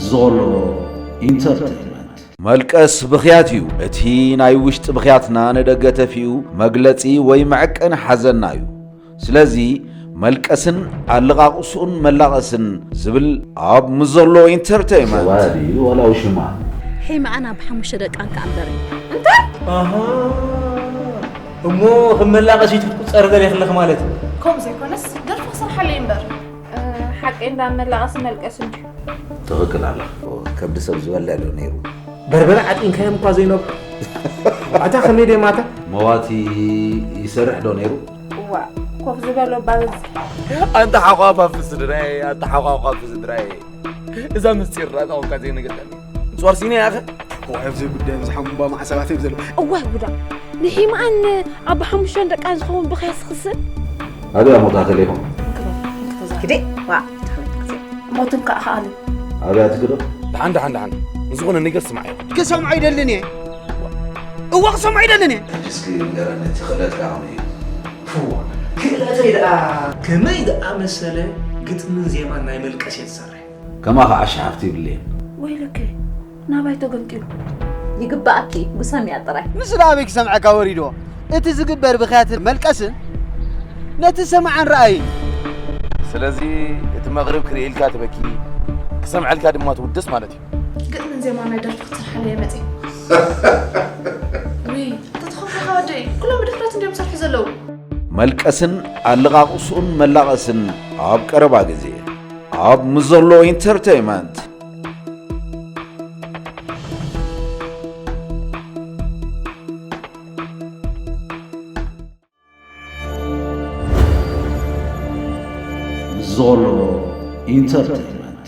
ዞሎ ኢንተርቴይንመንት መልቀስ ብኽያት እዩ። እቲ ናይ ውሽጢ ብኽያትና ንደገ ተፊኡ መግለጺ ወይ መዐቀኒ ሓዘና እዩ። ስለዚ መልቀስን ኣልቓቕሱን መላቐስን ዝብል ኣብ ምዞሎ ኢንተርቴይመንት ሰዋድ እዩ ዋላ ውሽማ ሒመኣን ኣብ ሓሙሽተ ደቃን ክኣ ንበረን እንታይ ኣሃ እሞ ከም መላቐሲት ክትቁፀር ደልየ ክለኽ ማለት እዩ ከምኡ ዘይኮነስ ደርፊ ክሰርሓለይ እምበር ሓቂ እንዳ መላቐሲ መልቀሲ እንጂ ትኽክል ኣላ ከብዲ ሰብ ዝበልዕ ዶ ነይሩ በርበረ ዓጢንካዮም እኳ ዘይነብ ኣታ ከመይ ደይ ማታ መዋቲ ይሰርሕ ዶ ነይሩ እዋ ኮፍ ዝበሎ ባበዝ ኣንተ ሓቋፋፍ ስድራይ ኣንተ ሓቋቋፍ ስድራይ እዛ ምስጢር ራእታ ኮንካ ዘይነገርካኒ ጽዋርሲነ ያኸ ዋይ ኣብዘይ ጉዳይ ዝሓምባ ማዕሰባት እዮም ዘለዉ እዋይ ጉዳ ንሒማኣን ኣብ ሓሙሽተን ደቃን ዝኸውን ብኸያስ ክስብ ኣደ ኣሞታ ተሌኹ ግዴ ዋ ሞትን ከዓ ከኣሉ ኣብያ ትክዶ ደሓን ደሓን ደሓን ንዝኾነ ነገር ስማዕ ክሰምዖ ይደልን እየ እዋ ክሰምዖ ይደልን እየ እስኪ ንገረኒ እቲ ክእለት ከዓ እዩ ክእለተይ ደኣ ከመይ ዝኣመሰለ ግጥምን ዜማን ናይ መልቀስ እየ ዝሰርሕ ከማ ከዓ ሸሓፍቲ ይብልየን። ወይ ልክ ናባይ ተገምጢሉ ይግባኣኪ ጉሰምያ ጥራይ ምስ ናበይ ክሰምዐካ ወሪዶ እቲ ዝግበር ብክያትን መልቀስን ነቲ ሰማዕን ረኣይን ስለዚ እቲ መቕርብ ክርእየልካ ትበኪ ክሰምዐልካ ድማ ትውድስ ማለት እዩ ግጥምን ዜማ ናይ ደርፊ ክትሰርሓለ እየ መፅእ ውይ ኣታ ተኸፍልካ ወደይ ኩሎም ብድፍረት እንዲዮም ዝሰርሑ ዘለዉ መልቀስን ኣለቓቕስኡን መላቐስን ኣብ ቀረባ ግዜ ኣብ ምዘሎ ኢንተርተይመንት ዞሎ ኢንተርተይመንት